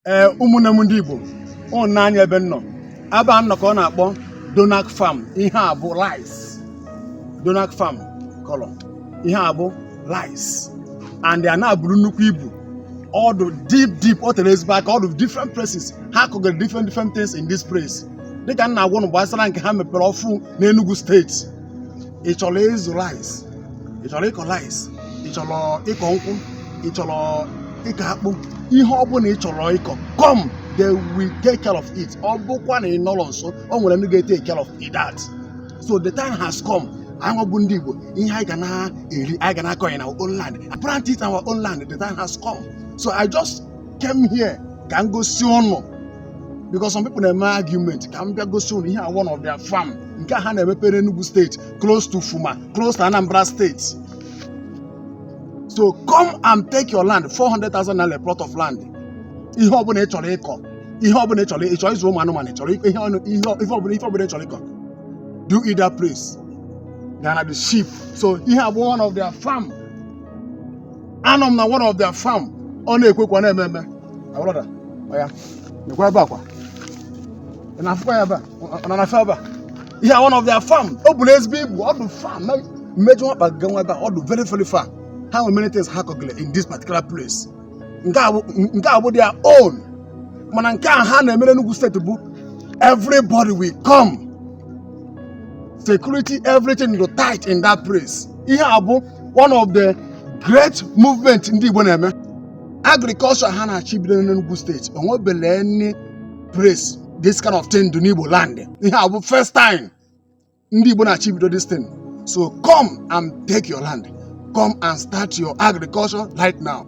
ee ụmụnne m ndị Igbo ụnụ nee anya ebe m nọ ebe a m nọ ka ọ na-akpọ Donak Farm ihe a bụ rice Donak Farm kọrọ ihe a bụ rice and ana a buru nnukwu ibu ọ dụ deep deep ọ tere ezigbo aka ọ dụ different places ha kọgara different different things in this place dịka m na-agwa ụnụ gbasara nke ha mepere ọfụ n'Enugu steeti ị chọrọ ịzụ rice ị chọrọ ịkọ rice ị chọrọ ịkọ nkwụ ị chọrọ ịkọ akpụ ihe ọ bụla ị chọrọ ịkọ come they will take care of it ọ bụkwa na ị nọrọ nso o nwere ndị ga-etake care of it that so the time has come anyị bụ ndị Igbo ihe anyị ga na-eri anyị ga na-akọ ya na our own land plant it in our own land the time has come so I just came here ka m gosi ụnụ because some people na-eme argument ka m bịa gosi ụnụ ihe a bụ one of their farm nke a ha na-emepere Enugu steeti close to Fuma close to Anambra steeti so come and take your land 400,000 naira a plot of land ihe ọbụla ị chọrọ ịkọ ihe ọbụla ị chọrọ ị chọrọ ịzụ ụmụ anụmanụ ị chọrọ ịkọ ihe ọnụ ihe ọ- ife ọbụla ife ọbụla ị chọrọ ịkọ do it that place ga na-adị cheap so ihe a bụ one of their farm anọ m na one of their farm ọ na-ekwukwa na-eme eme My brother, oya nekwa ebe a kwa ị na-afụkwa ya ebe a ọ nọ na fe ebe a ihe a one of their farm o buru ezigbo ibu ọ bụ farm na m ma-eji ọkpa ga nwa ebe a ọ dị very very far ha nwere many things ha kọgịrị in this particular place nke a bụ nke a bụ their own mana nke a ha na-emere Enugu steeti bụ everybody will come security everything go tight in that place ihe a bụ one of the great movement ndị Igbo na-eme agriculture ha na-achọ ibido n'Enugu steeti o nwebele any place this kind of thing dụ n'Igbo land ihe a bụ first time ndị Igbo na-achọ ibido this thing so come and take your land come and start your agriculture right now